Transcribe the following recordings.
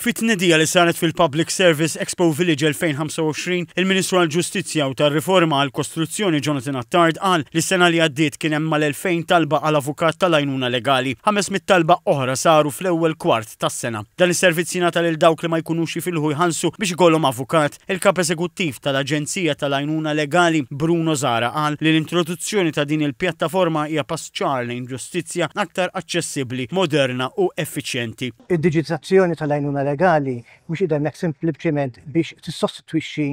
Fi tnedija li saret fil-Public Service Expo Village 2025, il-Ministru għall-Ġustizzja u tar-Riforma għall-Kostruzzjoni Jonathan Attard qal li s-sena li għaddiet kien hemm mal-2,000 talba għal avukat tal-għajnuna legali. 500 talba oħra saru fl-ewwel kwart tas-sena. Dan is-servizz jingħata lil dawk li ma jkunux jifilħu jħallsu biex ikollhom avukat. Il-Kap Eżekuttiv tal-Aġenzija tal-Għajnuna Legali, Bruno Zahra qal li l-introduzzjoni ta' din il-pjattaforma hija pass ċar lejn ġustizzja aktar aċċessibbli, moderna u effiċjenti. Id-diġitizzazzjoni tal-għajnuna legali mhux qiegħda hemmhekk simpliċement biex tissostitwixxi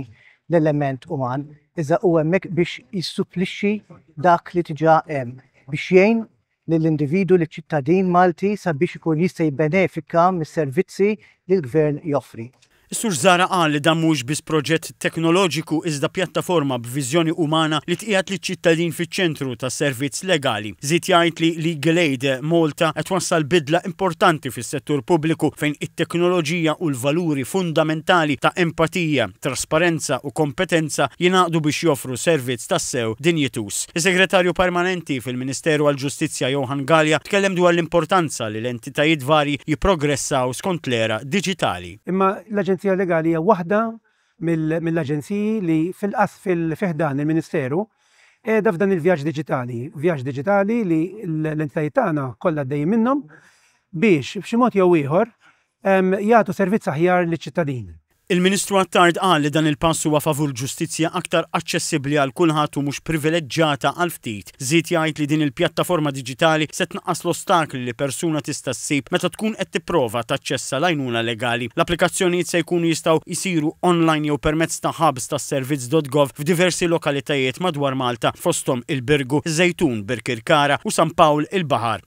l-element uman, iżda hu hemmhekk biex jissupplixxi dak li diġà hemm biex jgħin lill-individwu, liċ-ċittadin Malti sabiex ikun jista' jibbenefika mis-servizzi li l-Gvern joffri. Is-Sur Zahra qal li dan mhuwiex biss proġett teknoloġiku iżda pjattaforma b'viżjoni umana li tqiegħed liċ-ċittadin fiċ-ċentru tas-servizz legali. Żied jgħid li Legal Aid Malta qed twassal bidla importanti fis-settur pubbliku fejn it-teknoloġija u l-valuri fundamentali ta' empatija, trasparenza u kompetenza jingħaqdu biex joffru servizz tassew dinjituż. Is-Segretarju Permanenti fil-Ministeru għall-Ġustizzja Johann Galea tkellem dwar l-importanza li l-entitajiet varji jipprogressaw skont l-era diġitali. Imma l-Aġenzija Legali hija waħda mill-aġenziji li fi ħdan il-Ministeru qiegħda f'dan il-vjaġġ diġitali, vjaġġ diġitali li l-entitajiet tagħna kollha għaddejjin minnhom biex b'xi mod jew ieħor jagħtu servizz aħjar liċ-ċittadini. Il-Ministru Attard qal li dan il-pass huwa favur ġustizzja aktar aċċessibbli għal kulħadd u mhux privileġġata għal ftit. Żied jgħid li din il-pjattaforma diġitali se tnaqqas l-ostakli li persuna tista' ssib meta tkun qed tipprova taċċessa l-għajnuna legali. L-applikazzjonijiet se jkunu jistgħu jsiru online jew permezz ta' hubs tas-servizz.gov f'diversi lokalitajiet madwar Malta, fosthom il-Birgu, iż-Żejtun, Birkirkara u San Pawl il-Baħar.